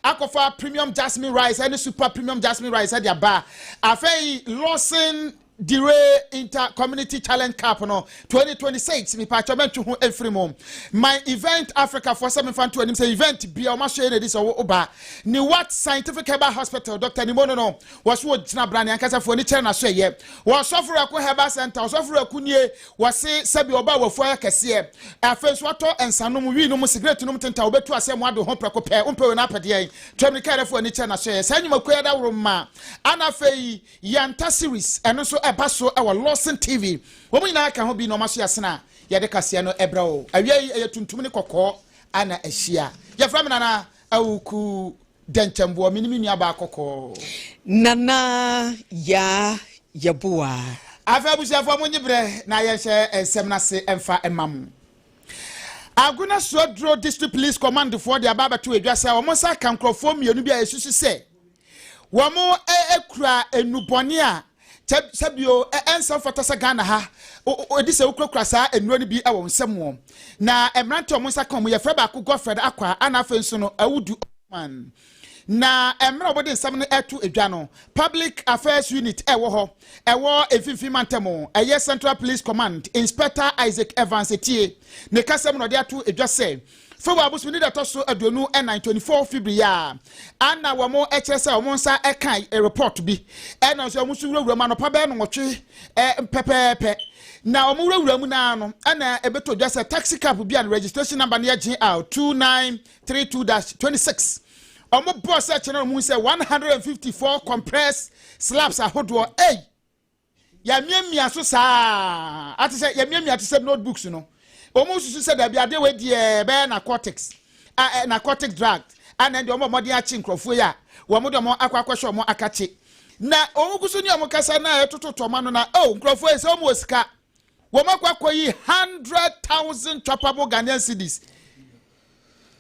akɔfa premium jasmine rice ɛne super premium jasmine rice ɛde aba afei lawson dire inter community challenge cup no 2026 mipatwa mɛntwe ho mfiri mu my event africa foɔ sɛ mefa nto anim sɛ event bia ɔma hyɛ na ɛdi sɛ ɔwɔ oba ne what scientific herbal hospital dr nimo no no wɔso wɔgyina bra ne ankasa foɔ ne kyerɛ n'aso ɛyɛ wɔsɔforo ɛko herbal center wɔsɔforo ɛko nie Wɔse sɛbi ɔbaa wafua ayɛ kɛseɛ. Afei nso watɔ nsa nom, wii nom, sigrɛt nom tenta, ɔbɛtu asɛe mo adwen ho prɛko pɛ. Wompɛ wei no apɛ deɛn? To amirika yɛrefo ani kyerɛ n'asoɛeɛ. Saa nnwumakuo yi adaworo mma. Ana afei Yanta series, ɛno nso ɛba so wɔ Lawson TV. Wɔn nyinaa ka ho bi nnoɔma so yɛasene a yɛde kaseɛ no brɛ wo. Awia yi ɛyɛ tuntum ne kɔkɔɔ na ahyia. Yɛfrɛ me Nana Awuku. Dɛntɛm boa me ne me nuabaa kɔkɔɔ. Nana yaa yɛ boa. Afei abusuafoɔ mo nye berɛ na yɛn hyɛ nsɛm no ase mfa mma mo. Agona Suaduro District Police Command foɔ de aba abɛto edwa sɛ wɔn nsa aka nkorɔfoɔ mmienu bi a yɛsusu sɛ wɔn kura nnubɔne a Sɛ sɛ bio ɛ ɛnsa mfata sɛ Ghana ha o o edi sɛ wokurakura saa nnuro no bi wɔ wo nsam o. Na mmerante a wɔn nsa ka wɔn yɛfrɛ baako Godfred Akwa ɛna afei nso no Awudu Osman. Na mmerɛ a wɔde nsɛm no ɛto dwa no, Public Affairs Unit ɛwɔ hɔ ɛwɔ Mfimfini Mantam ɛyɛ Central Police Command Inspector Isaac Evans Etie ne kasam na ɔde ato dwa sɛ February bosome ne da ɛtɔ so aduonu ɛnan, twenty four February yi a, ɛna wɔn kyerɛ sɛ wɔn nsa ɛka report bi, ɛna nso wɔn nso wurawura mu anɔpa bɛyɛ nnwɔtwe pɛpɛɛpɛ, na wɔn wurawura mu naa no, ɛna ɛbɛtɔ dwa sɛ taxi cab bi a ne registration number no yɛ GL two nine three two dash twenty six, wɔn bɔɔ sɛ kyerɛ na wɔn hu sɛ one hundred and fifty four compressed slabs ahodoɔ, ei! yɛamiamia so saa ate sɛ yɛamiamia te sɛ notebooks no wɔn susu sɛ dabi adeɛ wɔ adiɛ bɛyɛ narcotics a ɛ narcotic drug ana deɛ wɔn wɔde akye nkurɔfoɔ yi a wɔn de wɔn akɔ akɔhyɛ wɔn akakye na wɔn gu so ne wɔn kasa na ɛtoto tɔma no na oh nkurɔfoɔ yi sɛ wɔn wɔ sika wɔn akɔ akɔ yi hundred thousand chopable Ghanaian cedis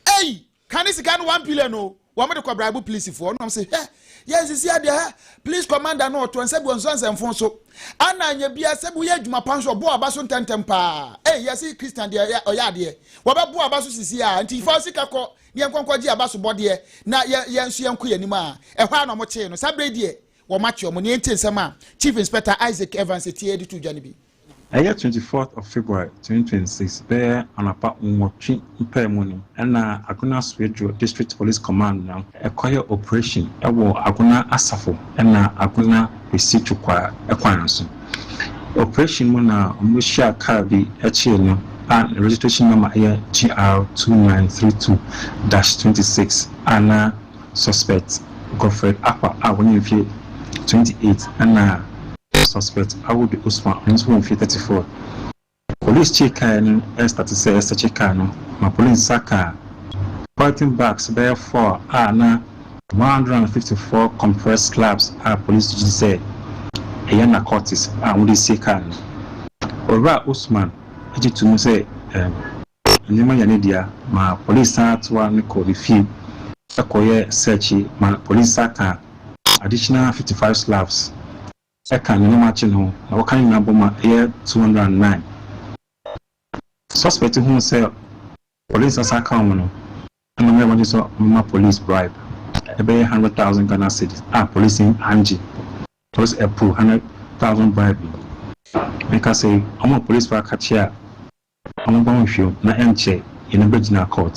ɛyi Ka ne sika no one billion o, wɔn de kɔ braibu pilisifoɔ, na wɔn se hɛ, yɛ nsisi adeɛ hɛ, pilis kɔmanda no ɔtoɔ nsɛ bi ɔnsɔ nsɛ mfon so, ana nyɛ bia sɛ bi woyɛ adwuma pa nso ɔboa ɔba so ntɛntɛm paa, ei yɛ se Christian deɛ yɛ ɔyɛ adeɛ, wɔbɛ boa ɔba so sisi a, nti fa wo sika kɔ na yɛn nkɔ nkɔ gye aba so bɔdeɛ na yɛ yɛn nso yɛn nkɔ yɛn anim a, ɛhɔ ara na wɔn kyee no, saa berɛ yi deɛ wɔn akye wɔn, nea enti nsɛm a Chief Inspector Isaac Evans Etie de to dwa no bi. Ɛyɛ twenty fourth of February twenty twenty six bɛyɛ anɔpa nwɔtwe mpae mu no na Agona Swedru District Police Command no kɔyɛ operation wɔ Agona Asafo na Agona Kwesi Tukwaa kwan so. Operation mu na wɔhyiaa car bi kyee no a ne registration number yɛ GR two nine three two dash twenty six a na Suspect Godfred Apa a wanya mfe twenty eight ɛna Suspect Awudu Usman ɔno nso wɔ mfe thirty four. Police kyee kae no ɛrestate sɛ ɛsɛkye kae no ma police nsa kaa polythene bags bɛyɛ four a na one hundred and fifty four compressed slabs a police gyedi sɛ ɛyɛ narcotics a wɔde asie kae no. Owura Usman gye to mu sɛ ɛɛ. Nneɛma yɛ ne dea ma police san toa no kɔ ne fie kɔ yɛ searchi ma police sa ka additional fifty five slavs ka ne nneɛma kye no ho na wɔka ne nyinaa bɔ ma ɛyɛ two hundred and nine. Suspect huu sɛ police asa ka wɔn no na ɔmaa wɔn gye sɛ wɔmma police bribe ɛbɛyɛ hundred thousand Ghana cedis a police yi angye police approve hundred thousand bribe yi. Meka sɛ wɔn a police fo aka kye a Ɔno bɔ nhwɛ o na ɛnkyɛ yɛne bɛgyina court.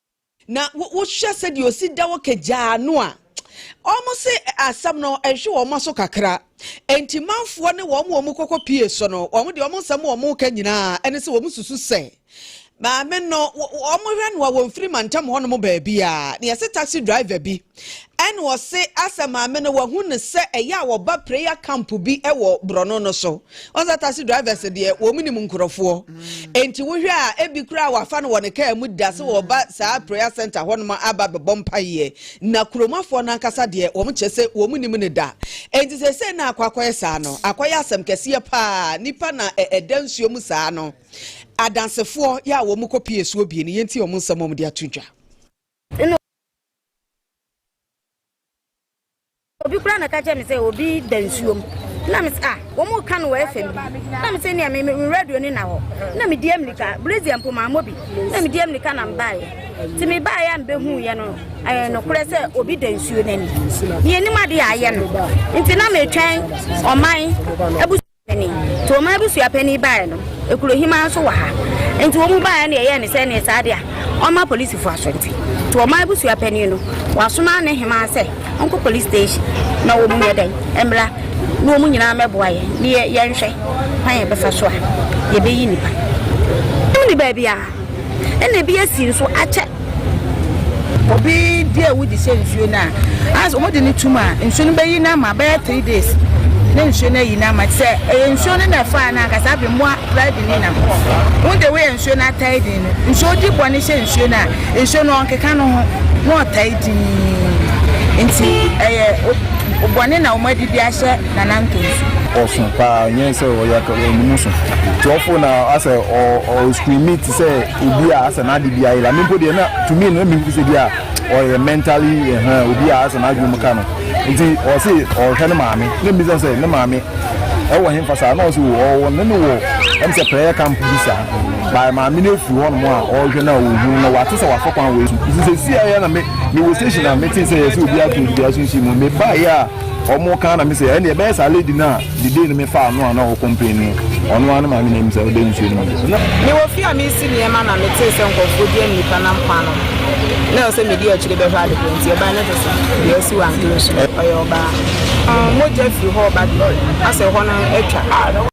Na wo wohwɛ sɛdeɛ ɔsi da hɔ kagyaa no a wɔn se asɛm no ɛhwe wɔn aso kakra enti manfoɔ ne wɔn wɔn kɔkɔ pie so no wɔn deɛ wɔn nsɛm wɔn ka nyinaa ɛne sɛ wɔn susu sɛ maame no wɔn hwɛ no a wɔn firi mantam hɔnom baabiara na yɛse taxi driver bi Ɛna ɔse asɛ maame no wahu no sɛ ɛyɛ a wɔba prayer camp bi wɔ borɔno no so. Wɔn sɛ taxi drivers deɛ wɔn nim nkurɔfoɔ. Enti wohwɛ a ebi koraa wafa no wɔ ne kaa mu da sɛ wɔba saa prayer center hɔ nom aba bɛbɔ mpaeɛ. Na kuromafoɔ no ankasa deɛ wɔn kyɛ sɛ wɔn nim no da. Enti seesei na akɔ akɔyɛ saa no akɔyɛ asɛm kɛseɛ paa. Nipa na ɛda nsuo mu saa no adansefoɔ yɛ a wɔn kɔ pie suo bie no yɛntie wɔn nsɛm wɔn de ato dwa. Ɛna obi koraa na ka kyerɛ me sɛ obi da nsuom na me sɛ ah wɔn reka no wɔ fam bi na me sɛ nea me me radio ne na hɔ na me di amirika brazil mpo maa mo bi na me di amirika na mbaeɛ te me baeɛ a mbɛhu yɛ no ɛyɛ eh, nokorɛ sɛ obi da nsuo n'ani yɛnim adeɛ a ayɛ no nti na metwɛn ɔman abusua Panin. Nti wɔn abusua panin baeɛ no, Ekurohima nso wɔ ha. Nti wɔn baeɛ no yɛyɛɛ no sɛ neɛ saa deɛ a, ɔmma polisifo aso nti. Nti wɔn abusua panin no, wɔasoma ne hema sɛ ɔnkɔ police station na wɔn nyɛ dɛn, mmra na wɔn nyinaa mmɛboa yɛn na yɛnhwɛ kwan a yɛbɛfa so a yɛbɛyi nnipa. Wɔnni baabiara. ɛna ebi asi nso akyɛ obi di awu de sɛ nsuo no a as wɔn de no tum a nsuo no bɛyi n'ama bɛyɛ three days ne nsuo no ayi n'ama sɛ ɛyɛ nsuo no na ɛfaa no ankasa afei mmoa kura de ne nam wɔn de wɔyɛ nsuo no atae din no nsuo di bɔ ne hyɛ nsuo no a nsuo no ɔnkeka no ho na ɔtae din nti ɛyɛ bɔne na wɔn adi de ahyɛ Nana Nkonsu. Ɔso paa nyɛ sɛ ɔyɛ ɔnimu so nti ɔfo na asɛ ɔskrimi te sɛ obi a asɛ n'ade bi ayɛ la me mpo deɛ na tumi no mehu sɛ bi a ɔyɛ mentally ɛhɛn eh, eh, obi a asɛ n'adwene mu ka no nti ɔse ɔhwɛ ne maame na mmisa sɛ ne maame ɛwɔ he mfa saa na ɔse ɔwɔ ne ne wɔ ɛm sɛ prayer camp bi saa bae maame no afiri hɔ nom a ɔhwɛ no a ɔhu na wate sɛ wafa kwan wɔ ɛsu nti sɛ si ayɛ na me mewɔ station a mete sɛ yɛ sɛ obi ato obi aso nsi mu mebaeɛ a Ɔmo kaa na me sɛ ɛnneɛ ɛbɛyɛ saa lady no a the day no me faa no a na ɔwɔ complain no ɔno ara ne maame na ɛmu sɛ ɔda nsuo no mu na. Mewɔ fie a mesi nneɛma na me tee sɛ nkɔfoɔ di nnipa nam kwan no ho na ɛwɔ sɛ medi akyire bɛhwɛ ade korɔ nti ɛban no te sɛ deɛ asi wantɔ nsuo ɔyɛ ɔbaa mogya firi hɔ reba deɛ asɛ hɔ no atwa.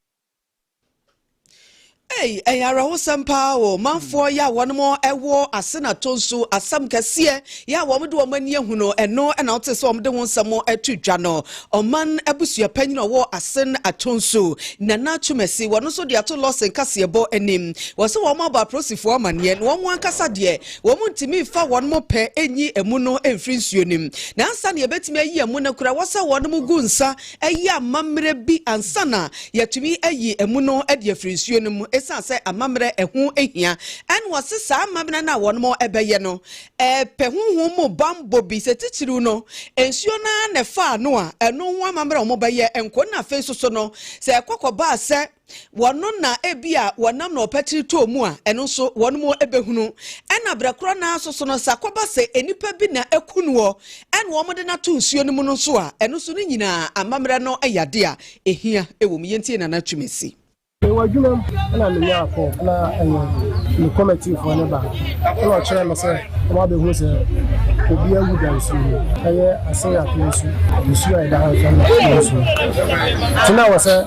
Ei, ɛyɛ awerɛhosɛm paa o. Manfoɔ yɛ a wɔnom ɛwɔ ase na to nso asɛm kɛseɛ yɛ a wɔn de wɔn ani ahu no ɛno ɛna wote sɛ wɔn de ho nsɛm ɛto dwa no. Ɔman abusua panyin ɔwɔ ase na ato nso Nana Twumasi wɔn nso de ato lɔsen kaseɛbɔ anim. Wɔsɛ wɔn abɔ aprosifoɔ amaneɛ na wɔn ankasa deɛ wɔn ntumi fa wɔn mo pɛ enyi emu no ɛmfiri nsuo nim. Na ansa na yɛbɛtumi ayi emu no kora wɔsɛ wɔnom gu nsa ayi amammerɛ bi ansa na yɛatumi ayi amu no de afiri nsuo no mu ɛsiane sɛ amammerɛ ɛho hia. Ɛna wɔse saa amammerɛ no a wɔbɛyɛ no pɛ honhom mu bammɔ bi, sɛ titiriw no nsuo no ara na ɛfaa no a ɛno ho amammerɛ a wɔbɛyɛ nko na afei nso so no sɛ ɛkɔ kɔbaa sɛ wɔn na ebia wɔnam na ɔpatiri tɔɔ mu a ɛno nso wɔn mu ebehunu ɛna brɛ korɔ naa nso so no sa kɔba sɛ enipa bi na eku noɔ ɛna wɔn de n'ato nsuo no mu no nso a ɛno nso ne nyinaa amammerɛ no yɛ adeɛ a ehia ɛwɔ mu yɛntie nana twumasi. Mewɔ adwuma mu na menya akɔ na ɛyɛ ne kɔmɛtifoɔ ne baa na ɔkyerɛ me sɛ ɔma bɛhu sɛ obi awu da nsuo mu ɛyɛ asen ato nsu nsuo a ɛda ha nso na nsuo nti na wɔ sɛ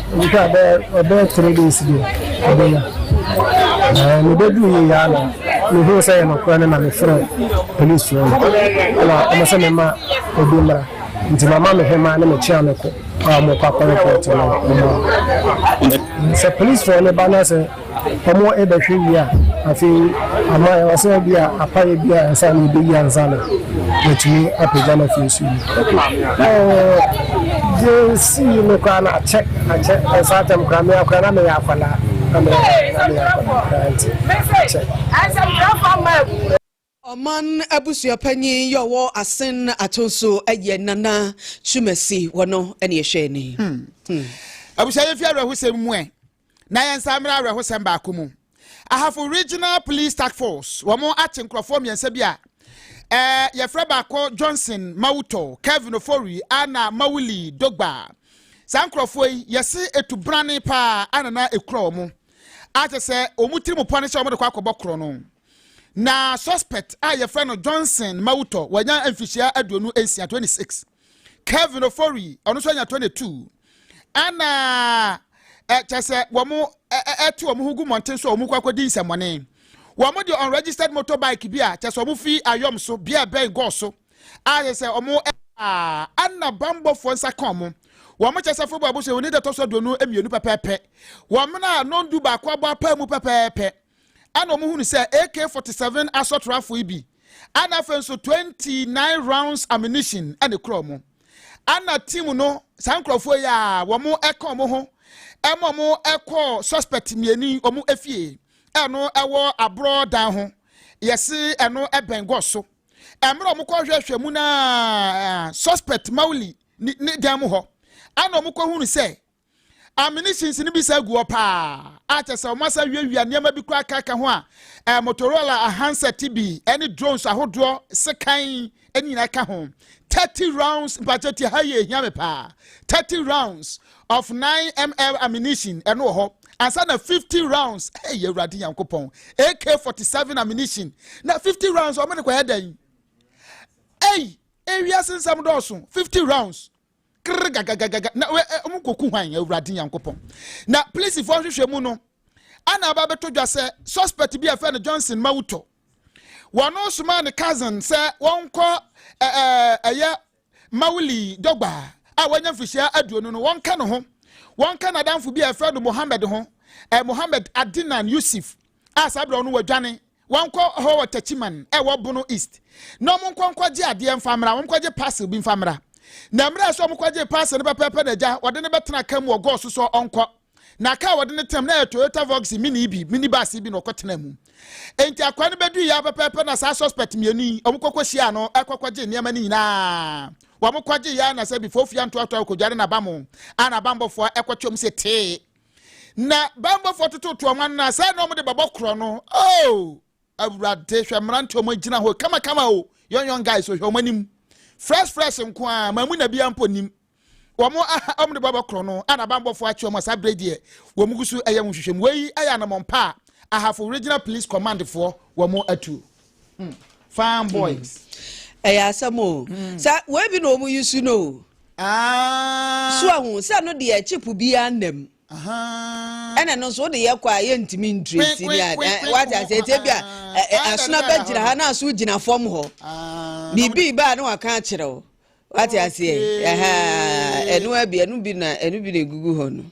Nka bɛyɛ ɔbɛyɛ three days bi ɔbɛnya na mebɛduu yɛ yɛ ana mehuu sɛ yɛ nɔkorɛ no na mefrɛ polisi no na ɔmo sɛ mema obi mmra nti mama me hema ne mekyea me ko a ɔmo kɔ akɔ report no ɔmo sɛ policefoɔ no ba no sɛ Wɔbɛhwɛ wie a, afei ama ɛwɔ sɛ ebi a apaeɛ bi a ansa na yɛbɛyi ansa na yɛatumi apagya no afiri nsuo mu. Yɛsii no koraa na akyɛ akyɛ ɛnsa atɛm koraa meya koraa na meyɛ akwadaa na meyɛ akwadaa koraa nti akyɛ. Ɔman abusua panyin yɛ ɔwɔ asen ato so yɛ Nana Twumasi wɔ no ne ɛhwɛ ni. Hmm. Hmm. Abusua yɛ fi awerɛhosɛm mu ɛ na yɛn nsa mmerɛ awerɛhosɛm baako mu. Ahafo Regional Police Task Force wɔn akye nkurɔfoɔ mmiɛnsa bi a ɛɛ yɛfrɛ baako Johnson Mawutɔ, Kevin Ofori, Anna Mawuli Dogba. Saa nkurɔfoɔ yi yɛse etu brane paa anana ekura wɔn. Akyɛ sɛ wɔn tirim pɔ ne sɛ wɔn de kɔ akɔbɔ korɔ no. na suspect a yɛfrɛ no johnson mawutɔ wanya mfihyia aduonu nsia 26 kevin ofori ɔno nso anya 22 ɛna ɛkyɛ sɛ wɔn ɛte wɔn ho gu mmɔnten so a wɔn kɔ akɔdi nsɛmmɔne wɔn de unregistered motorbike bi a kyɛ sɛ wɔn fi ayɔm so bia ɛbɛn gɔɔ so a kyɛ sɛ wɔn ɛna bambɔfoɔ nsa ka wɔn wɔn kyɛ sɛ fobo abosɛ wɔn ne dɛtɔ so aduonu mmienu pɛpɛɛpɛ wɔn a nondu baako abɔ apaa mu pɛpɛɛpɛ ɛna wɔn hunu sɛ AK 47 asɔtoro afo yi bi ɛna afei nso 29 rounds ammunition ɛna ekura wɔn ɛna team no saa nkurɔfoɔ yi a wɔn ɛka wɔn ho ɛma wɔn ɛkɔ suspect mmienu wɔn efie ɛno ɛwɔ aborɔ dan ho yɛsi ɛno ɛbɛn gɔs so ɛmmerɛ wɔn kɔ hwɛhwɛ mu na suspect mauli ne dan mu hɔ ɛna wɔn kɔ hunu sɛ amene sinsini bi saa gu hɔ paa a kyɛ sɛ wɔn asa wiawia nneɛma bi koraa kaka ho a ɛɛ motorola ahansɛt bi ɛne drones ahodoɔ sekan ɛne nyinaa ka ho thirty rounds mpakyɛ ti ha yɛ ehia me paa thirty rounds of nine ml ammunition ɛno wɔ hɔ ansa na fifty rounds ɛyɛ awurade nyankopɔn ak forty seven ammunition na fifty rounds wɔn ne kɔ yɛ dɛn ɛyi ewiase nsɛm dɔɔso fifty rounds. krgagagagaga na wɔn kɔku hwan awurade nyankopɔn na polisifoɔ nhwehwɛ mu no ana aba bɛto dwa sɛ suspect bi a fɛ no johnson ma wotɔ wɔn somaa ne cousin sɛ wɔnkɔ ɛyɛ mawuli dɔgba a wɔanya mfirihyia aduonu no wɔnka ne ho wɔnka n'adamfo bi a ɛfrɛ no mohammed ho mohammed adinan yusuf a saa berɛ no wadwane Wɔnkɔ hɔ wɔ Techiman a ɛwɔ Bono East na wɔnkɔ nkɔgye adeɛ mfa mmra, wɔnkɔgye parcel bi mfa mmra. Na mmerɛ a sɛ wɔkɔgyee parcel no pɛpɛɛpɛ na agya wɔde no bɛtena ka mu wɔ Gɔs sɛ ɔnkɔ. Na kaa a wɔde no tenam no yɛ Toyota Voxy Mini bi, minibus bi na ɔkɔtenaa mu. Enti akoa no bɛduiɛ ara pɛpɛɛpɛ na saa suspect mmienu yi wɔkɔkɔhyiaa no kɔkɔgyee nneɛma no nyinaa. Wɔkɔgyeeɛ ara na sɛ before ofie antoatoa wɔkɔdware n'abamoo a n'abammɔfoɔ kɔtwam se tee. na bambɔfoɔ tototo wɔn anan sɛ na wɔde bɛbɔ korɔ no oh awurade hwɛ mmerante wɔn agyina hɔ kamakama o young young guys ohwɛ wɔn anim fresh fresh nko a maa mu na bia mpo nim wɔn aha wɔn de bɛbɔ korɔ no ana bambɔfoɔ akyi wɔn asa bere deɛ wɔn gu so ɛyɛ wɔn hwehwɛ mu wei ɛyɛ anamɔn pa a ahafo regional police command foɔ wɔn atu Fine boys. Mm. Ɛyɛ asɛm o. Mm. Sɛ wei bi na wɔn yi su no o. Ah. So ahu sɛ no deɛ chip biara nam. ɛna no nso wode yɛ kɔ a yɛntumi ntresi ne a wate asɛ ɛtɛ bi a asono bɛgyina ha na aso gyina fam hɔ biribi baa ne waka akyerɛ wo wate aseɛ ɛno abi ɛno bi na ɛno bi na ɛgugu hɔ no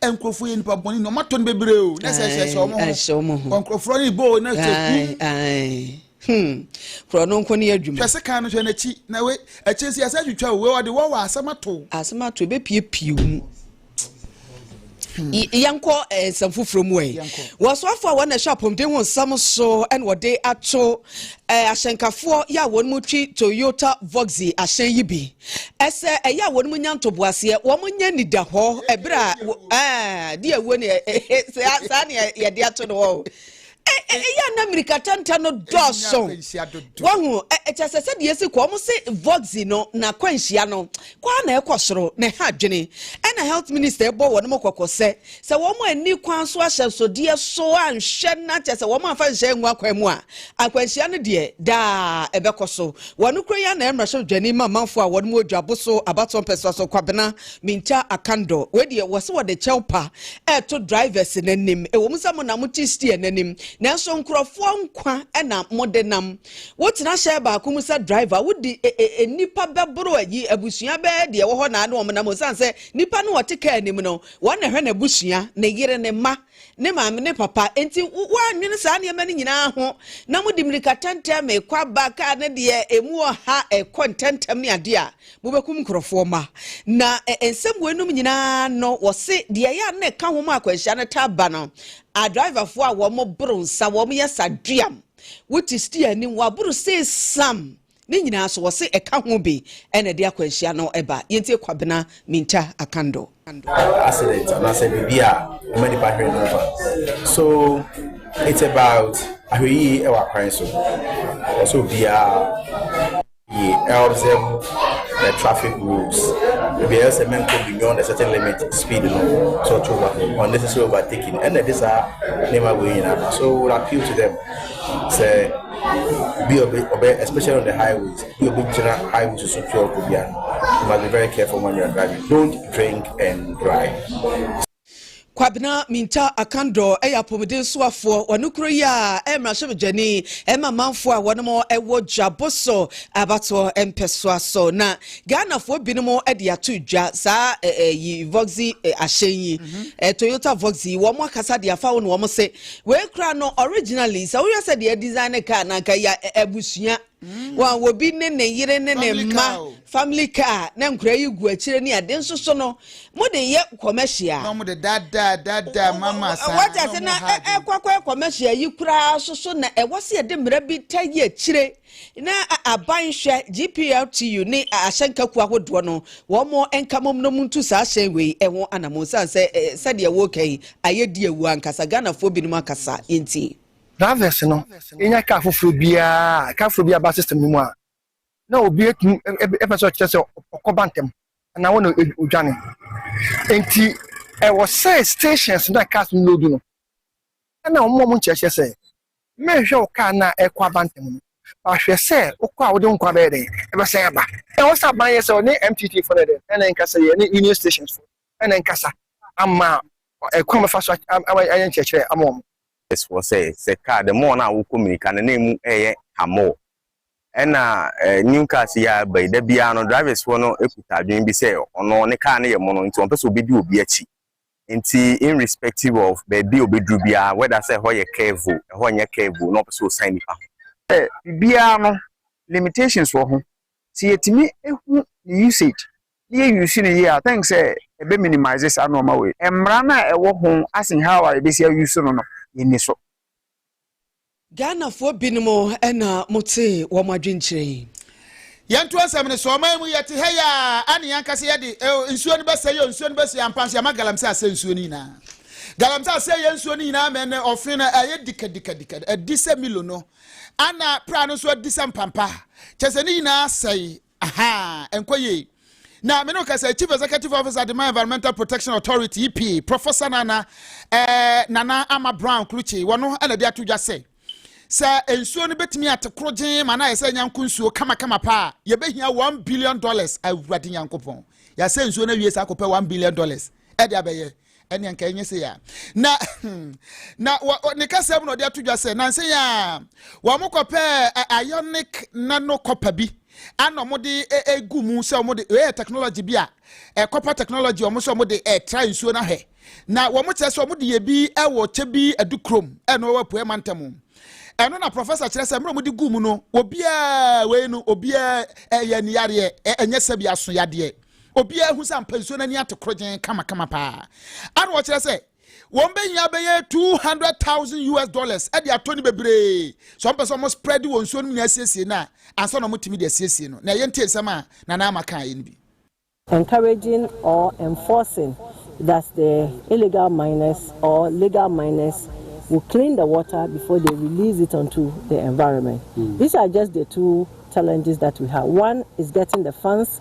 nkurɔfoɔ yɛ nipa bɔne na ɔmatɔ no bebree o na sɛ ɛhyɛ hyɛ ɔmo ho ɔnkurɔfoɔ ne bɔɔ na sɛ kum korɔ no nko ne yɛ adwuma hwɛ se kan no hwɛ n'akyi na we akyire si asɛ twitwa o we ɔde wɔ wɔ asɛm ato asɛm ato ebepiepie mu hmm. yɛnkɔ eh, nsɛm foforɔ mu ɛ wɔsoafoɔ a wɔn na ɛhwɛ apɔmuden ho nsɛm so ɛna wɔde ato eh, ahyɛnkafoɔ yɛ a wɔn mu twi toyota voxy ahyɛn yi bi Ɛsɛ ɛyɛ a wɔn mu nya ntoboaseɛ, wɔn nya nidahɔ ɛberɛ a wɔ- ah, di awuo ne ɛ- ɛ- ɛ- saa saa ne ɛ- yɛde ato no hɔ o. Ɛ- ɛ- ɛyɛ a na mmirikatɛntɛ no dɔɔso akwanhyia dodo. wahu ɛ- ɛ, kyerɛ sɛ sɛdeɛ ɛsi kɔ ɔmo se voxy no na akwanhyia no kwaa na ɛkɔ soro na ɛha adwene ɛna health minister ɛbɔ wɔn mo kɔkɔ sɛ Sɛ wɔn anni kwan so ahyɛnsodeɛ so anhwɛ na kyɛ sɛ wɔn amfa nhyɛ angu akwan mu a, akwanhyia no deɛ daa ɛbɛkɔ so. Wɔ ano kura yi ara na ɛmmra hyɛ odwani ma amanfoɔ a wɔn mu odwa bo so abatoɔ mpɛsoa so Kwabena Mintah Akandor. Wei deɛ wɔse wɔde kyɛw pa ɛreto drivers no anim. Ɛwɔ mu sɛ mo na mote steer no anim nanso nkurɔfoɔ nkwa na mode nam. Wotena hyɛn baako mu sɛ driver a wodi e, e, e, nnipa bɛboro ayi abusua bɛɛ deɛ ɛwɔ hɔ na ne wɔn nam osiane sɛ nnipa no wɔte kaa anim no Wɔn na ɛhwɛ n'abusua, ne yere, ne mma, ne maame, ne papa. Enti woannwene saa nneɛma no nyinaa ho, na mode mmirika tɛntɛm rekɔ aba, kar no deɛ emu wɔ ha, ɛkɔ ntɛmntɛm ne adeɛ a, mobɛkum nkurɔfoɔ mma. Na nsɛm weinom nyinaa no, wɔse deɛ ɛyɛ a na ɛka ho ma akwanhyia no taa ba no, adriverfoɔ a wɔboro nsa, wɔyɛ saduam, wote steer anim, wɔaboro sei sam, Ne nyinaa so, wɔse ɛka ho bi na ɛde akwanhyia no ba. Yɛntie Kwabena Minta Akando. Car accident anaasɛ biribi a ɛma nipa hwere ne nkwa so it's about ahwɛyie ɛwɔ akwan so ɔsɛ obiara yie ɛobserve the traffic rules ebi ɛyɛ sɛ mɛnkɔ beyond a certain limit speed no so ɔto ba unnecessary overtaking ɛna ɛde saa nneɛma wei nyinaa so would appeal to them sɛ Obi a ɔbɛ ɔbɛ especially on the highways, obi a ɔbɛgyina highways so tu ɔkɔ bi a, you must be very careful when you are driving. Don't drink and drive. Kwabena Mintah Akandor yɛ apɔmuden soafoɔ wɔ ne kuro yi a ɛyɛ mmarahyɛbadwani ma amanfoɔ a wɔnom wɔ dwabo so abatoɔ mpɛsoa so na Ghanafoɔ binom de ato dwa saa ɛyi Voxy ahyɛn yi Toyota Voxy wɔn akasa de afa wo na wɔn se Wei kura no originally sɛ woyɛ sɛ deɛ design ne car na nka yɛ abusua mm. wɔn obi ne ne yere ne ne mma family car na nkura yi gu akyire ne ade nso so no mo de yɛ commercial. na mo de dada dada mama saa wɔte ase na ɛkɔkɔ commercial yi koraa soso na ɛwɔ se yɛde mmerɛ bi ta yi akyire. na aban hwɛ GPRTU ne ahyɛnka kuo ahodoɔ no wɔn nkamom no mu ntu saa hyɛn wei ho anamon sane sɛ sɛdeɛ wɔreka yi ayɛ di awu ankasa Ghanafoɔ binom akasa yɛnti. Drivers no nya car foforɔ biara a car foforɔ bi aba system no mu a na obi atumi ɛpɛ sɛ ɔkyerɛ sɛ ɔkɔba ntɛm anaa wɔn na odwane nti ɛwɔ sɛ stations na cars no load no ɛna wɔn a wɔn nkyerɛkyerɛ sɛ Mɛhwehwɛ wo kaa no a ɛrekɔ aba ntɛm no. Ba hwɛ sɛ wokɔ a wode wo nkwa bɛyɛ dɛn? Ɛbɛsan aba. Ɛwɔ sɛ aban yɛ sɛ ɔne MTT fo no yɛ dɛn? Ɛna ɛnkasa yi, ɛne Union Stations fo ɛna ɛnkasa ama kwan a wɔbɛfa so ayɛ nkyerɛkyerɛ ama wɔn. S fo sɛ, sɛ kaa the more no a wokɔ mirika no na ɛmu ɛyɛ ka more. Ɛna new cars yi a ɛba yi, da biara no drivers foɔ no kuta adwene bi sɛ ɔno ne kaa no yɛ mono nti wɔmpɛ sɛ wɔbɛdi obi akyi. Nti irrespective of baabi a ɔbɛduru biara, whether sɛ ɛhɔ yɛ curve o, ɛhɔ nyɛ curve o, na ɔpɛ sɛ ɔsan nnipa ho. Sɛ biribiara no, limitations wɔ ho. Sɛ yɛtumi hu ne usage na yɛ use no yie a, I think sɛ ɛbɛ minimise saa nnoɔma wei. Mmara no a ɛwɔ ho as in how a yɛbɛsi a use no no, yɛnni so. Ghanafoɔ binom na mote wɔn adwenkyerɛ yi. Yɛnto asɛm no so, ɔman mu yɛte ha yi aa ane yɛn ankasa yɛde oh, nsuo no bɛsɛe oh, nsuo no bɛsɛe ampa nso yɛama galamsey asɛe nsuo no nyinaa galamsey asɛe yɛn nsuo no nyinaa ma ɛnɛ ɔfe no ɛyɛ dikadikadika adi sɛ milo no ana pra no nso adi sɛ mpampa kyɛ sɛ ne nyinaa sɛe Aha, ɛnkɔ yie. Na me ne kasa Chief Executive Officer Adema Environmental Protection Authority EPA Professor Nana eh, Nana Ama Brown Klutse wɔn no ɛna de ato dwa sɛ sɛ nsuo no betumi ate koro gyen ma na ayɛ sɛ nyanko nsuo kamakama paa yɛbɛhia one billion dollars awurade nyankopɔn yɛasɛ nsuo no awie saa akɔpɛ one billion dollars ɛde abɛyɛ ɛne nka ɛnyɛ sei a na hmm, na ne kasɛm na ɔde ato dwa sɛ nanse yɛ a wɔn kɔpɛ ionic nano copper bi ana wɔde egu mu sɛ wɔde ɛyɛ technology bi a ɛ copper technology wɔn sɛ wɔde ɛtra nsuo no ahwɛ na wɔn kyerɛ sɛ wɔde yɛ bi ɛwɔ kyɛ bi ɛdu kurom ɛna wɔwɔ apue mantam ɛno na professor kyerɛ sɛ mmerɛ wɔde gu mu no obiara wei no obiara ɛyɛ niyareɛ ɛnyɛ sɛbi aso yadeɛ Obiara hu sɛ ampa nsuo no ani ate korogyenn kamakama paa. Ana wɔkyerɛ sɛ wɔbɛhia bɛyɛ 200,000 US dollars de atɔ no bebree sɛ wɔpɛ sɛ wɔn spread wɔ nsuo no mu nyinaa siesie no a ansa na wɔtumi de asiesie no. Na ɛyɛ ntie nsɛm a Nana Ama kaeɛ no bi. encouraging or enforcing that the illegal miners or legal miners will clean the water before they release it onto the environment. These are just the two challenges that we have, one is getting the funds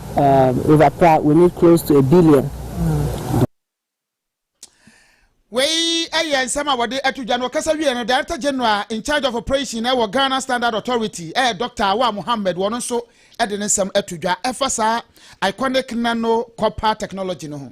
Um, Eva Pra, we need close to a billion. Wei yɛ nsɛm a wɔde ato dwa no ɔkasa wie no Director General in charge of operation ɛwɔ Ghana Standard Authority ɛyɛ Dr. Awaa Mohammed wɔn nso de ne nsɛm ato dwa ɛfa saa iconic nano copper technology no ho.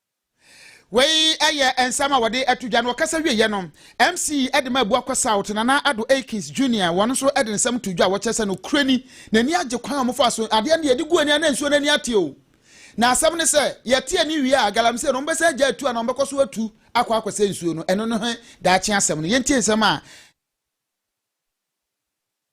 Wei yɛ nsɛm a wɔde to dwa. Na wɔkasa wieeɛ no, MC de ma Abuakwa South, Nana Addo Akins Junior, wɔn nso de nsɛm too dwa a wɔkyerɛ sɛ nokorɛ ni, n'ani agye kwan a wɔfaa so, adeɛ no deɛ yɛde gu ani a na nsuo no ani ate o. Na asɛm ne sɛ, yɛte ani wie a, galamsey no wɔbɛsan agyae tu anaa wɔbɛkɔ so atu akɔ akɔsɛe nsuo no, ɛno ne daakye asɛm no. Yɛntie nsɛm a.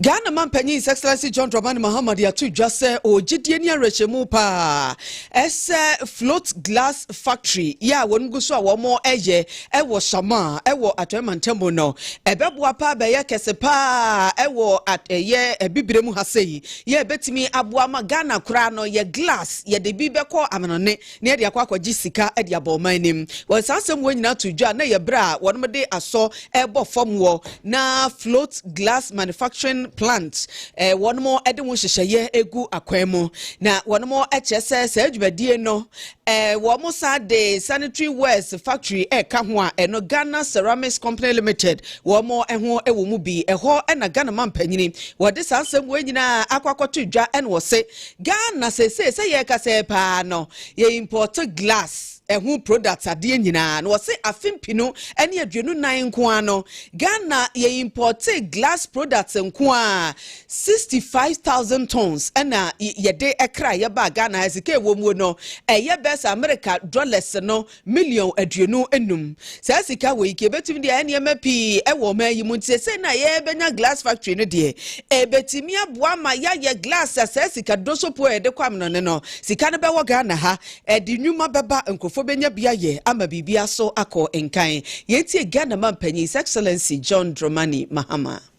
Ghana Mampanyin His Excellency John Dramani Mahama de ato dwa sɛ ɔwɔ gyedie ne awerɛhyɛmu paa sɛ Float Glass Factory yɛ a wɔn gu so a wɔreyɛ wɔ Shamaa wɔ Atɔe Mantamu no, ɛbɛboa paa bɛyɛ kɛse paa wɔ ɛyɛ abibire mu ha sɛ yi, yɛ ɛbɛtumi aboa ma Ghana koraa no yɛ glass yɛde bi bɛkɔ amanɔne. na yɛde akɔ akɔgye sika de aba ɔman no mu. Wɔde saa asɛm wɔ nyinaa too dwa a, na ɛyɛ bere a wɔde asɔ rebɔ fam wɔ na Float Glass Manufacturing Plant eh, wɔn de ho nhyehyɛeɛ egu akwan mu. Na wɔn kyerɛ sɛ saa dwumadie no eh, wɔn san de Sanitary Wares Factory ɛka ho a ɛno Ghana Ceramics Company Limited wɔn ho wɔ mu bi. Ɛhɔ na Ghana mampanyini wɔde saa asɛm wɔ nyinaa akɔ akɔto dwa na wɔse Ghana seesei sɛ yɛrekasa yi paa no yɛ import glass ɛho products adeɛ nyinaa no wɔse afe mpinu ɛne aduonu nan nkoaa no Ghana yɛ importee glass products nkoaa 65,000 tons ɛna yɛde ɛkra yɛbaa Ghana ha sika ɛwɔ muo no ɛyɛ bɛs America dollars no Million aduonu nnum. Saa sika wei nka ebetumi de ayɛ nneɛma pii wɔ ɔman yi mu. Nti sɛsɛɛ na yɛbɛnya glass factory no deɛ, ebetumi aboa ma yɛayɛ glass a saa sika dodoso po a yɛde kɔ amnone no, sika no bɛwɔ Ghana ha. Ɛde nnwuma bɛba, nkurɔfoɔ bɛnya bi ayɛ ama biribiara so akɔ nkan. Yɛntie Ghana manpanyin His Excellency John Dromani Mahama.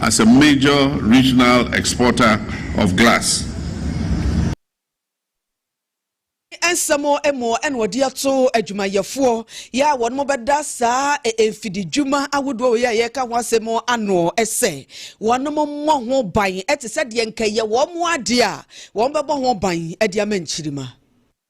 as a major regional exporter of glass. Ne nsɛm mu na ɔde ato adwumayɛfoɔ yɛ a wɔnom bɛda saa mfididwuma ahodoɔ wei a yɛreka ho asɛm ano sɛ wɔnom mmɔ ho ban te sɛ deɛ nka ɛyɛ wɔn adeɛ a wɔbɛbɔ ho ban de ama nkyirima.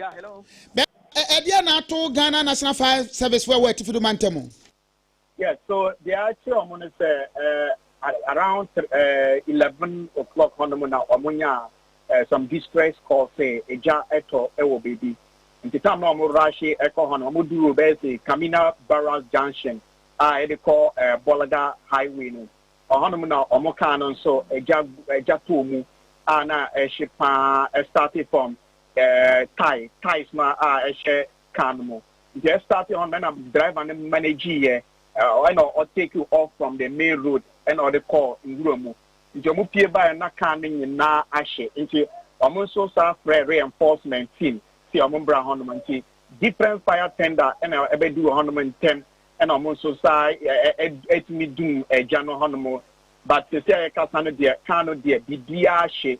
Yeah, hello. Bɛ ɛdeɛ na ato Ghana National Fire Service fo ɛwɔ Atifi do mantam. Yes, so deɛ akyerɛ wɔn no sɛ eh, around eh, eleven o'clock hɔnom na wɔn nya eh, some distress call sɛ egya ɛtɔ ɛwɔ baabi. Nti tam na wɔn rahyɛ ɛkɔ hɔ no wɔn duru bɛyɛ sɛ Kamina Barracks Junction a ɛde kɔ eh, Bɔlada Highway no. Ɔhɔnom na wɔn kaa no nso egya egya tɔɔ mu a na ɛhye paa ɛstarte fam. ɛɛ tae taes no a ɛhyɛ car no mu nti yɛ start hɔ no ɛna driver no manage yɛ ɛna ɔ take you off from the main road ɛna ɔde kɔ nwura mu nti wɔn pie baeɛ na car no nyinaa ahye nti wɔn nso saa frɛ reinforcement team si wɔn bra hɔ nom nti different fire tender ɛna ɛbɛdu wɔ hɔ nom ntɛm ɛna wɔn nso saa ɛtumi dum ɛgya no hɔ nom but sisi a yɛkasa no deɛ car no deɛ biribiara ahye.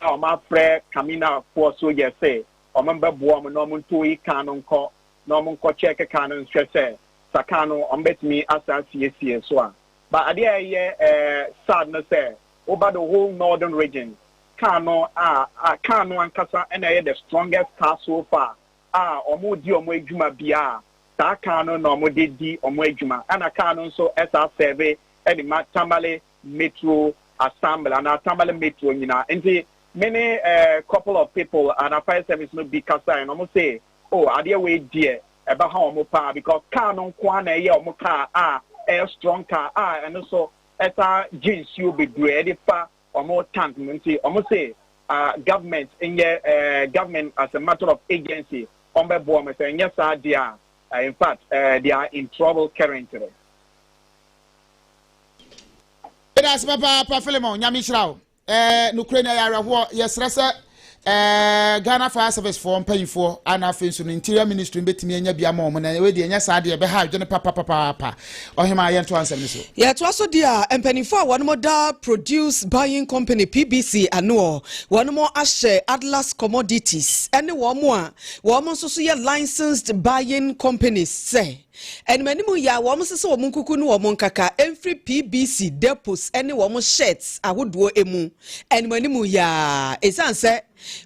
na wɔafrɛ Kaminafoɔ soldiers se wɔmbɛboa wɔn na wɔntow yi kan no nkɔ na wɔnkɔ check kan no nhwɛ sɛ sa kan no wɔbɛtumi asan asiesie so a. But adeɛ a ɛyɛ eh sad no sɛ woba the whole northern region kan no a a kan no ankasa na ɛyɛ the strongest car so far a wɔredi wɔn adwuma bia a saa kan no na wɔde di wɔn adwuma ɛna kan no nso ɛsaa serve ɛde ma Tamale Metro Assemble anaa Tamale Metro nyina nti me ne a couple of people anaa fire service no bi kasae na ɔmo se oh adeɛ wei deɛ ɛbɛ ha ɔmo paa because car no nko ara na ɛyɛ ɔmo car a ɛyɛ strong car a ɛno so ɛsan gye nsuo bebree ɛde fa ɔmo tank mu nti ɔmo se ah government nyɛ eh, government as a matter of agency ɔmo bɛ boa ɔmo sɛ nyɛ saa deɛ a eh, in fact eh, they are in trouble currently. Meda ase papaapa Philemon, nyame nhyira wo. Eh, nokorɛ ni ɛyɛ awerɛhoɔ. Yɛsrɛ sɛ eh, Ghana Fire Service foɔ mpanyinfoɔ ana afei nso no Interior Ministry bɛtumi anya bi ama wɔn na ɛwɛ deɛ ɛnyɛ saa deɛ ɛbɛha adwene papapapaapa. Ɔhema yɛnto ansɛm no so. Yɛtoa so deɛ a mpanyinfoɔ a wɔn da Produce Buying Company PBC anoɔ, wɔn ahyɛ Atlas Commodities ɛne wɔn a wɔn nso so yɛ Licensed Buying Companies sɛ. Animanim yɛ a wɔn sesɛ wɔn nkuku ne wɔn nkaka mfiri PBC depots ne wɔn shirts ahodoɔ mu animanim yɛ a. Ɛsiane sɛ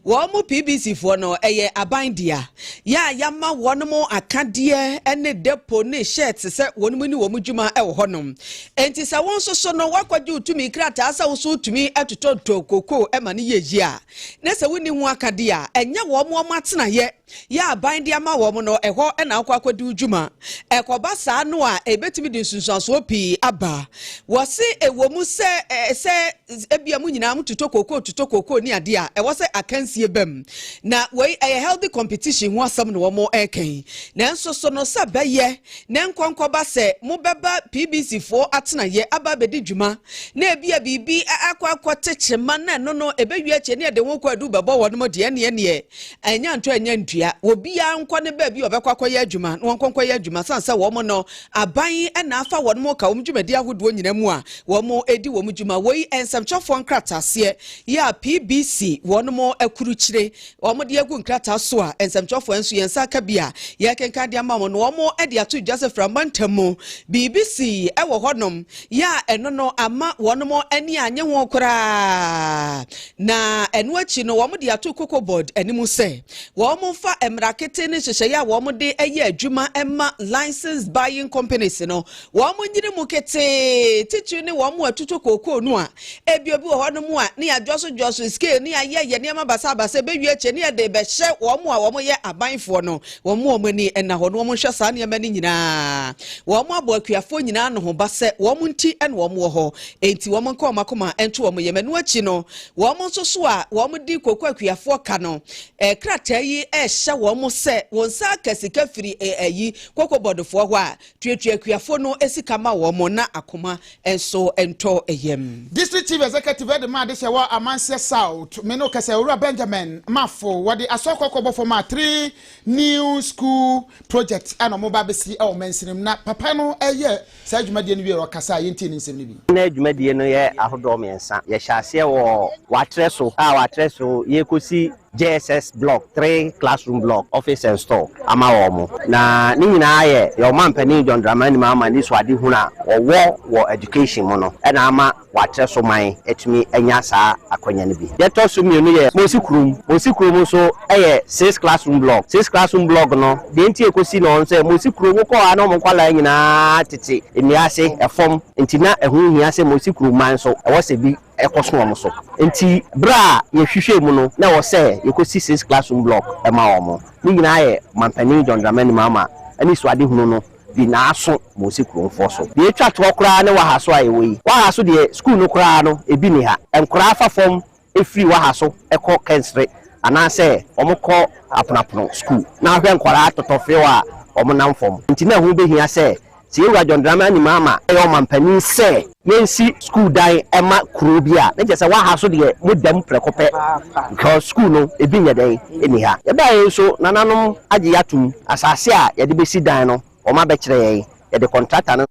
wɔn PBC foɔ no ɛyɛ aban dea yɛ a yɛama wɔn mo akadeɛ ne depot ne shirts sɛ wɔn mu ne wɔn dwuma wɔ hɔnom. Enti sɛ wo nso so no wakɔgye wo tumi krataa sɛ wo so wotumi totɔtotɔ kokoo ma no yɛ yie a na sɛ wonni ho akadeɛ a ɛnyɛ wɔn wɔn atenaeɛ yɛ aban de ama wɔn no, ɛhɔ na wokɔ akɔdi wo dwuma. Ɛkɔba saa no a, ɛbɛtumi de nsunsuansoɔ pii aba. Wɔse ɛwɔ mu sɛ sɛ ebia mo nyinaa mo tutɔ kookoo tutɔ kookoo ne adeɛ a, ɛwɔ sɛ akansie bam. Na wei ɛyɛ healthy competition ho asɛm na wɔn ɛka yi. Nanso so no sɛ bɛyɛ na nkɔnkɔba sɛ mobɛba PBC foɔ atenaeɛ aba abɛdi dwuma na ebia biribi akɔ akɔte kyema na ɛno no ɛbɛwie akyɛ ne ɛde ho kɔ adu bɛbɔ wɔn deɛ ɛneɛ neɛ Ɛnyɛ ntɔ ɛnyɛ ndua. Obiara nkɔ ne baabi a ɔbɛkɔ akɔyɛ adwuma na wɔnkɔ nkɔyɛ adwuma sane sɛ wɔn no, aban na afa wɔn ka wɔn dwumadi ahodoɔ nyinaa mu a wɔdi wɔn dwuma. Woi nsɛmtwerɛfoɔ nkrataaseɛ yɛ a PBC wɔn akurukyire wɔn de agu nkrataa so a nsɛmtwerɛfoɔ nso yɛn nsa aka bi a yɛrekenkan de ama wɔn no wɔn de ato dwa sɛ Fira mantam mu biribi sii wɔ hɔnom yɛ a ɛno no ama wɔn ani annye ho koraa. Na ɛno akyi no, wɔde ato Cocoa Board anim sɛ wɔmfa mmara kete ne nhyehyɛeɛ a wɔde yɛ adwuma ma Licensed Buying Companies no, wɔnyini mu ketee, titiri ne wɔn a wɔtotɔ kookoo no a ebia obi wɔ hɔnom a ne adwɔsodwɔso scale ne ayɛyɛ nneɛma basabasa ɛbɛwie akyire ne yɛde rebɛhyɛ wɔn a wɔyɛ abanfoɔ no, wɔn a wɔn ani nna hɔ no, wɔnhwɛ saa nneɛma no nyinaa. Wɔabɔ akuafoɔ nyinaa ano ho ba sɛ wɔn nti na wɔwɔ hɔ. Enti wɔnka wɔn akoma nto wɔn yam. Ɛno akyi no, wɔn nso so a wɔdi kooko akuafoɔ ka no, krataa yi rehyɛ wɔn sɛ wɔnsan aka sika firi ayi kooko bɔdofoɔ hɔ a, tuatua akuafoɔ no sika ma wɔn na akoma nso ntɔ yam. District Chief Executive de maa adehyɛ wɔ Amansiɛ South, me ne wo kɛsɛ, Owura Benjamin Mafo. Wɔde Asɔr Kɔkɔɔ bɔfoɔ maa three new school project a na wɔreba abɛsi wɔ Mansinim, na papa no reyɛ Saa dwumadie no wieɛ no ɔkasaa, yɛntie ne nsɛm no bi. Ná dwumadie no yɛ ahodoɔ mmiɛnsa. Yɛhyɛ aseɛ wɔ wɔatrɛ so a wɔatrɛ so yɛrekɔsi JSS block three classroom block, office and store ama wɔn. Na ne nyinaa yɛ yɛn Ɔmampanin John Dramani Mahama anisoadehunu a ɔwɔ wɔ education mu no na ama wɔakyerɛ so man atumi anya saa akwanya no bi. Deɛ ɛtɔ so mmienu yɛ Mosi Kurom. Mosi Kurom nso yɛ six classroom block. Six classroom block no, deɛ nti a ɛkɔsi no hɔ no sɛ, Mosi Kurom wokɔ hɔ a na wɔn nkwadaa nyinaa tete nnua ase, fam, nti na ɛho hia sɛ Mosi Kurom man nso ɛwɔ sɛ bi kɔso wɔn so. Nti berɛ a yɛhwehwɛɛ mu no, na ɛwɔ sɛ yɛkɔsi six classroom block ma wɔn. Ne nyinaa yɛ Ɔmampanin John Dramani Mahama anisoadehunu no di n'aso Mose Kuromfoɔ so. Deɛ ɛtwa toɔ koraa ne Wahaso a yɛwɔ yi. Wahaso deɛ sukuu no koraa no ɛbi nni ha. Nkoraa fa fam firi Wahaso kɔ Kɛnsere anaasɛ wɔkɔ Aponoapono sukuu. Na wohwɛ nkwadaa totɔ few a wɔnam fam. Nti na ɛho bɛhia sɛ, sɛ yɛwura John Dramani Mahama a ɔyɛ ɔmanpanin sɛ. Yɛnsi sukuu dan ma kuro bi a na kyerɛ sɛ waha so deɛ mo dam prɛko pɛ because sukuu no ebi nyɛ dɛn ɛni ha. Yɛbaeɛ yi nso nananom agye yɛ atom, asase a yɛde bɛsi dan no wɔn abɛkyerɛ yɛn, yɛde kɔntrata no.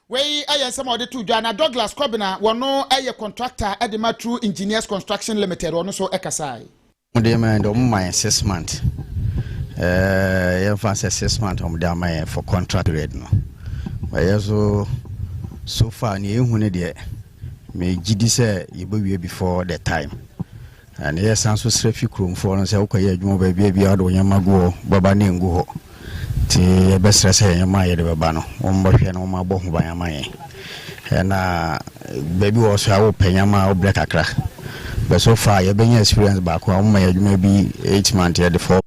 Wei yɛ nsɛm a wɔde too dwa na Douglas Kɔbena, wɔn yɛ kɔntrakta de ma True Engineers Construction Limited, ɔno nso kasaeɛ. Wɔn de ma yɛn de wɔn ma yɛn six month ɛɛ yɛn fa sɛ six month wɔn de ama yɛn for contract period no ɛyɛ so so far nea ehu ne deɛ mɛ gyi di sɛ yɛbɛ wie before the time ɛna yɛ san so srɛ fi kuromfoɔ no sɛ wokɔ yɛ adwuma baabi a bi a wɔde wɔn yɛn ma gu hɔ baba ne ngu hɔ. Ntsi yɛbɛserɛ sɛ ndzɛmba a yɛdze bɛba no, wɔmbɔhwɛ na wɔabɔ ho ban ama hɛn. Nna beebi wɔ hɔ so a wɔpɛ ndzɛmba a ɔbrɛ kakra, but so far yɛbɛnya experience baako a wɔma yɛ edwuma bi eight months yɛdze four.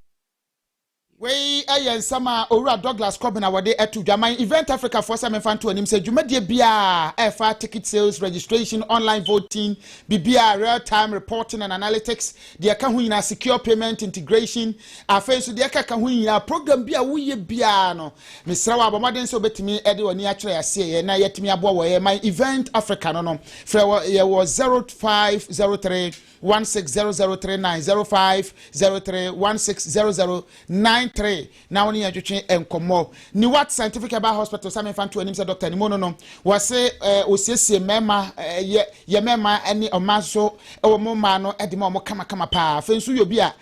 Wei yɛ nsɛm a Owura Douglas Kobina wɔde to dwa man Event Africa foɔ sɛ memfa nto anim sɛ dwumadie biara a ɛfa ticket sales, registration, online voting, biribiara, real time reporting and analytics, deɛ ɛka ho nyinaa secure payment integration afei nso deɛ ɛka ka ho nyinaa program bi a woyɛ biara no mesrɛ wɔ abɔmmɔden sɛ wobɛtumi de w'ani akyerɛ aseɛ na yɛatumi aboa wɔ yɛ man event africa no no frɛ wɔ yɛwɔ 0503 160039 0503 160093 na wo ne yɛn twetwe nkɔmmɔ. Niwat Scientific Herbal Hospital, sɛ memfa nto anim sɛ dɔkta ne mu no no, wɔse wɔsiesie mmarima, yɛ yɛ mmarima ne ɔmmaa nso, wɔn mmaa no de ma wɔn kamakama paa. Afei nso woyɛ obi a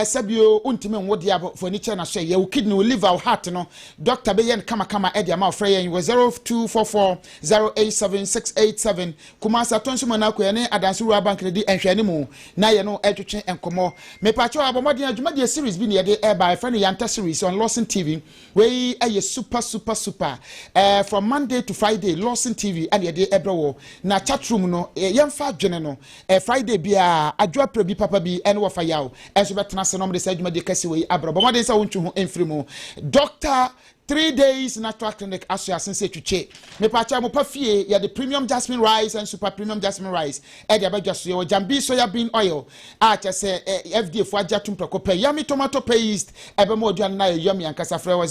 sɛbio wontumi nwo deɛ a, fo ani kyerɛ no sɛ yɛ wo kidney, wo liver, wo heart no, dɔkta bɛyɛ no kamakama de ama wo. Frɛ yɛn wɔ 0244 087 687. Kumasi Atonso mu na akoya ne Adanse Rural Bank no di nhwɛanimu na yɛne no retwetwe nkɔmmɔ. Mepakyɛw abɔ mmɔden a, dwumadie series bi na yɛde reba a yɛfrɛ no Yanta Series on Lawson TV. Wei yɛ super super super. Eh, from Monday to Friday, Lawson TV na yɛde brɛ wɔ. Na chat room no, eh, yɛmfa adwene no. Eh, Friday biara, adwo aprɛ bi papa bi ne wɔfa yaw nso bɛtena ase na wɔde saa dwumadie kɛse wei abrɛ. Bɔ mmɔden sɛ wontwe ho mfiri mu. Dr. Three days natural clinic aso ase sɛ twitwe. Mepaakyɛw mo pa fie yɛde premium jasmine rice and super premium jasmine rice ɛde aba dwa so. Yɛwɔ Jambi soya bean oil a kyɛ sɛ FDA fo agye atum prɛko pɛ. Yummy tomato paste ɛbɛma w'aduane no ayɛ yummy ankasa. Frɛ wɔ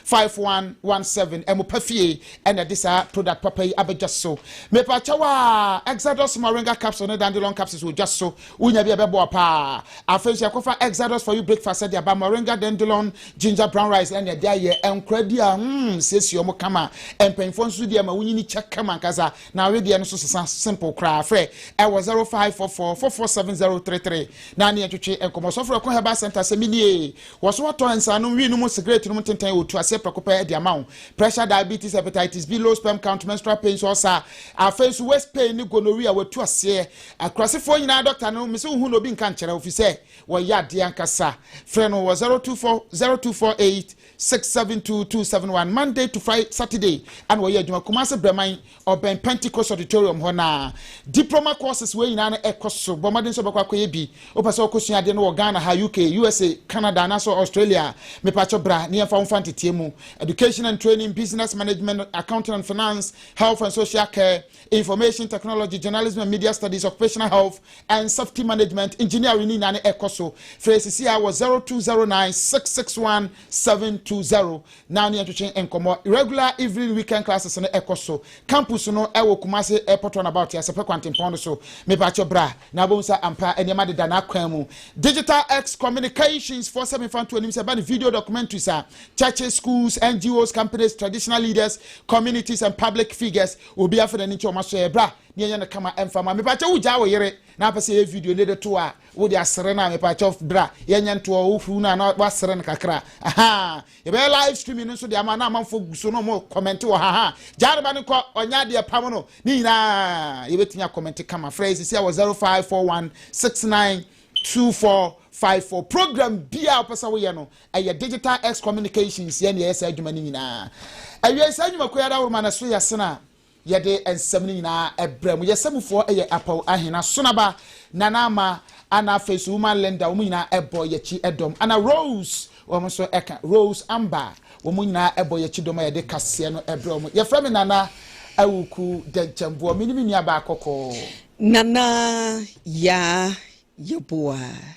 0244615117. Ɛmo pa fie ɛna ɛde saa product papa yi aba dwa so. Mepaakyɛw a Exodus moringa capsule ne dandelion capsules wɔ dwa so. Wunya bi a ɛbɛboa paa. Afei nso yɛakɔfa Exodus for you breakfast de aba, moringa, dandelion, ginger, brown rice ɛne ɛde ayɛ. Nkora di a hmm siesie wɔn kama. Mpanyinfoɔ nso di ama wonyini kyɛ kama ankasa. Na awedeɛ no nso sesa simple koraa. Frɛ ɛwɔ 0544 447033 na ne yɛntwetwe nkɔmmɔ. Sɔfo Reko Herbal Center sɛ menie. Wɔ so wɔtɔ nsanom, wii nom, sigaret nom, ntenten, otu aseɛ prɛko pɛ de ama wo. Pressure, diabetes, hepatitis B, low sperm count, menstrual pains, ulcer, afei nso waist pain ne gonorrhea, watu aseɛ, Akurasefɔɔ nyinaa dɔkta no mese wohu na obi nka nkyɛrɛ wo fisɛ wɔyɛ adeɛ ankasa frɛ no wɔ 024 0248 672271 Monday to Friday Saturday ɛna wɔyɛ adwuma Kumase Brɛman ɔbɛn Pentecost Auditorium hɔ na Diploma courses wei nyinaa no ɛkɔ so bɔ mmɔden sɛ ɔbɛkɔ akɔyɛ bi wopɛ sɛ ɔkɔ sua adeɛ no wɔ Ghana ha UK USA Canada anaasɛ Australia mepakyɛ bra ne yɛmfa wo mfa nteteɛ mu Education and Training Business Management Accounting and Finance Health and Social Care Information Technology, Journalism and Media Studies, Occupational Health and Safety Management, Engineering ne nyinaa no ɛkɔ so. Frɛ sisi a wɔ 0209 661 720 na ne yɛntwetwe nkɔmmɔ. Regular evening weekend classes no ɛkɔ so. Campus no ɛwɔ Kumase Airport Runabout, Asɛpɛ Kwantempɔn no so. Mepakyɛ bra na wobɛhu sɛ ampa nneɛma deda n'akwan mu. Digital X Communications foɔ sɛ memfa nto anim sɛ ɛba ne video documentaries a Churches, schools, NGOs, companies, traditional leaders, communities and public figures obi afa n'ani nkyɛ wɔn aso yɛ bra ne yɛnyɛ no kama ɛmfa ma mepaakyɛ wo gyaa wo yere na apɛ sɛ yɛ video ne de to a wo de asere no a mepaakyɛ bra yɛnyɛ ntoɔ wo furu no a na wasere no kakra aha yɛbɛyɛ live streaming no nso de ama na amanfo gu so no mo comment wɔ ha ha gyaa no ba no kɔ ɔnyɛ adeɛ pam no ne nyinaa yɛbɛtumi akɔmɛnte kama frɛ yɛ sisi a wɔ 0541 69 2454 program bia wopɛ sɛ woyɛ no Ɛyɛ Digital X Communications yɛ na yɛyɛ saa adwuma no nyinaa. Awiei saa nnwumakuo yi adaworoma no so yɛ sena yɛde nsɛm no nyinaa ɛbrɛ mu. Yɛsɛ mufoɔ yɛ Apaw Ahina, Sonaba, Nana Ama, ana afei so Woman Linda, wɔn nyinaa ɛbɔ yɛkyi ɛdɔm, ana Rose, wɔn nso ɛka Rose Amba, wɔn nyinaa ɛbɔ yɛkyi dɔm a yɛde kaseɛ no ɛbrɛ wɔn. Yɛfrɛ me Nana Awuku Dɛnkyɛmboɔ, me ne me nua baa kɔkɔɔ. Nana, Yaa, Yeboah.